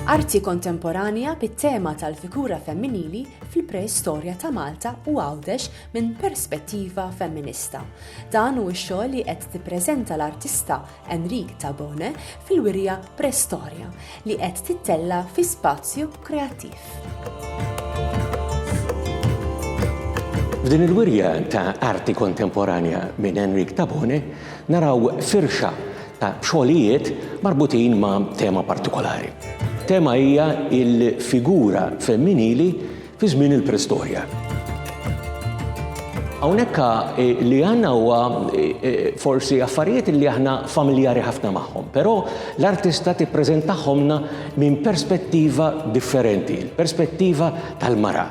Arti kontemporanja bit-tema tal-figura femminili fil-preistorja ta' Malta u Għawdex minn perspettiva femminista. Dan hu x-xogħol li qed tippreżenta l-artista Enric Tabone fil-wirja Prestoria li qed tittella' fi spazju kreattiv. F'din il-wirja ta' arti kontemporanja minn Enrik Tabone naraw firxa ta' xogħlijiet marbutin ma' tema partikolari. Tema hija il-figura femminili fi żmien il-Preistorja. Hawnhekk eh, li għandna huwa eh, eh, forsi affarijiet li aħna familjari ħafna magħhom, però l-artista tippreżentahomna minn perspettiva differenti, perspettiva tal-mara.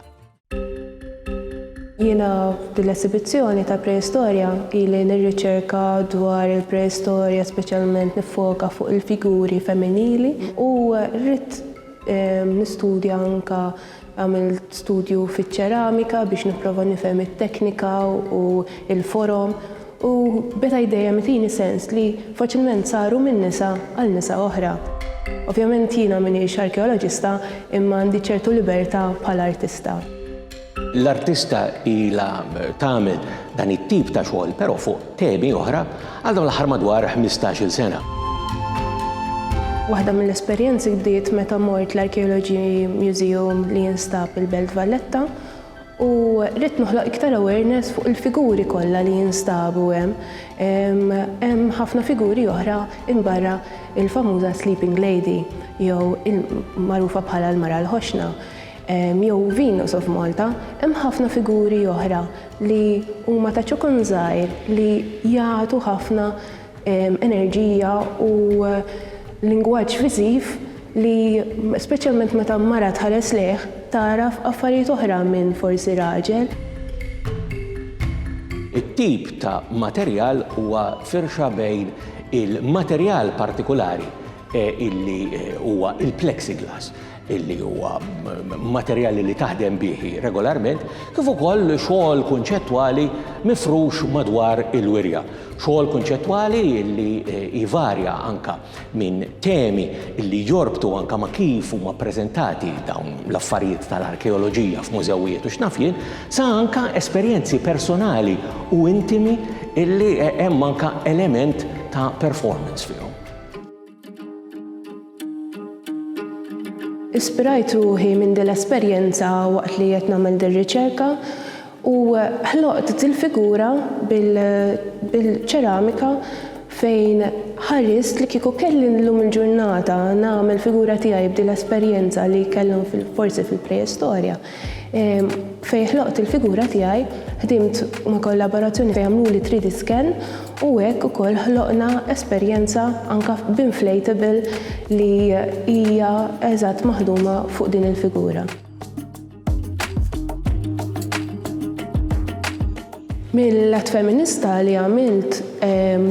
Jiena dil-esibizzjoni ta' preistorja ili nirriċerka dwar il-preistorja speċjalment nifoka fuq il-figuri femminili u rrit Nistudja anke għamilt studju fiċ-ċeramika biex nipprova nifhem it-teknika u l-forom u beda jdejjem itini sens li faċilment saru minn nisa għal nisa oħra. Ovvjament jiena m'iniex arkeoloġista imma għandi ċertu libertà bħala artista. L-artista ilha tagħmel dan it-tip ta' xogħol però fuq temi oħra għal dawn l-aħħar madwar ħmistax-il sena. Waħda mill-esperjenzi bdiet meta mort l-Archaeology Museum li jinstab il-Belt Valletta u ridt noħloq iktar awareness fuq il-figuri kollha li jinstabu hemm. Hemm ħafna figuri oħra imbarra il-famuża Sleeping Lady jew il-magħrufa bħala l-Mara l-Ħoxna. jew Venus of Malta, hemm ħafna figuri oħra li huma ta' ċokon żgħir li jagħtu ħafna enerġija u lingwaġġ viżiv li speċjalment meta mara tħares lejh tagħraf affarijiet oħra minn forsi raġel. It-tip ta' materjal huwa firxa bejn il-materjal partikulari illi huwa il-plexiglass. li huwa materjali li taħdem bih hi regolarment, kif ukoll xogħol kunċettwali mifrux madwar il-wirja. Xogħol kunċettwali li jvarja anka minn temi li jorbtu anka ma' kif huma ppreżentati dawn l-affarijiet tal-arkeoloġija f'mużewijiet u x'naf jien, sa anka esperjenzi personali u intimi li hemm anka element ta' performance fihom. Ispirajt ruħi minn din l-esperjenza waqt li qed nagħmel din riċerka u ħloqt din figura bil-ċeramika fejn ħarist li kieku kelli llum il-ġurnata nagħmel figura tiegħi b'din l-esperjenza li kellhom forsi fil-preistorja Fejn ħloqt il-figura tiegħi, ħdimt ma' kollaborazzjoni fejn għamluli 3D scan u hekk ukoll ħloqna esperjenza anke b'inflatable li hija eżatt maħduma fuq din il-figura. Mill-att feminista li għamilt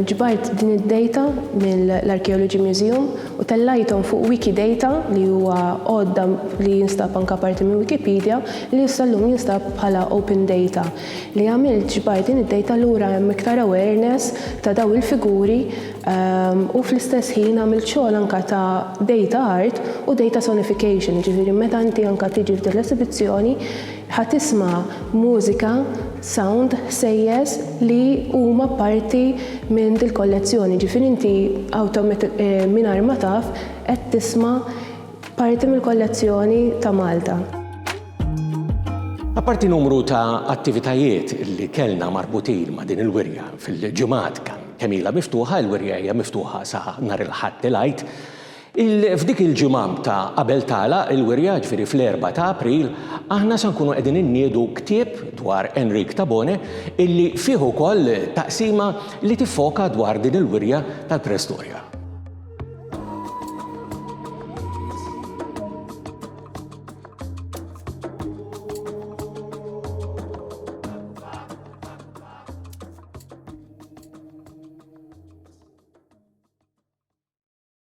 ġbart din id-dejta mill-Archaeology Museum u tellajthom fuq Wikidata li huwa għodda li jinstab anke parti minn Wikipedia li issa llum jinstab bħala open data li għamilt ġbart din id-dejta lura hemm iktar awareness ta' dawn il-figuri u fl-istess ħin għamilt xogħol anke ta' data art u data sonification jiġifieri meta inti anke tiġi f'din l-esibizzjoni Ħa tisma' mużika, sound, ħsejjes li huma parti minn dil-kollezzjoni, jiġifieri inti mingħajr ma taf qed tisma' parti mill-kollezzjoni ta' Malta. Apparti numru ta' attivitajiet li kellna marbutin ma' din il-wirja fil-ġimgħat kemm ilha miftuħa, il-wirja hija miftuħa sa nhar il-Ħadd il-Għid, F'dik il-ġimgħa ta' qabel tagħlaq il-wirja, ġifieri fl-Erbgħa ta' April, aħna se nkunu qegħdin inniedu ktieb dwar Enric Tabone illi fih ukoll taqsima li tiffoka dwar din il-wirja tal-preistorja.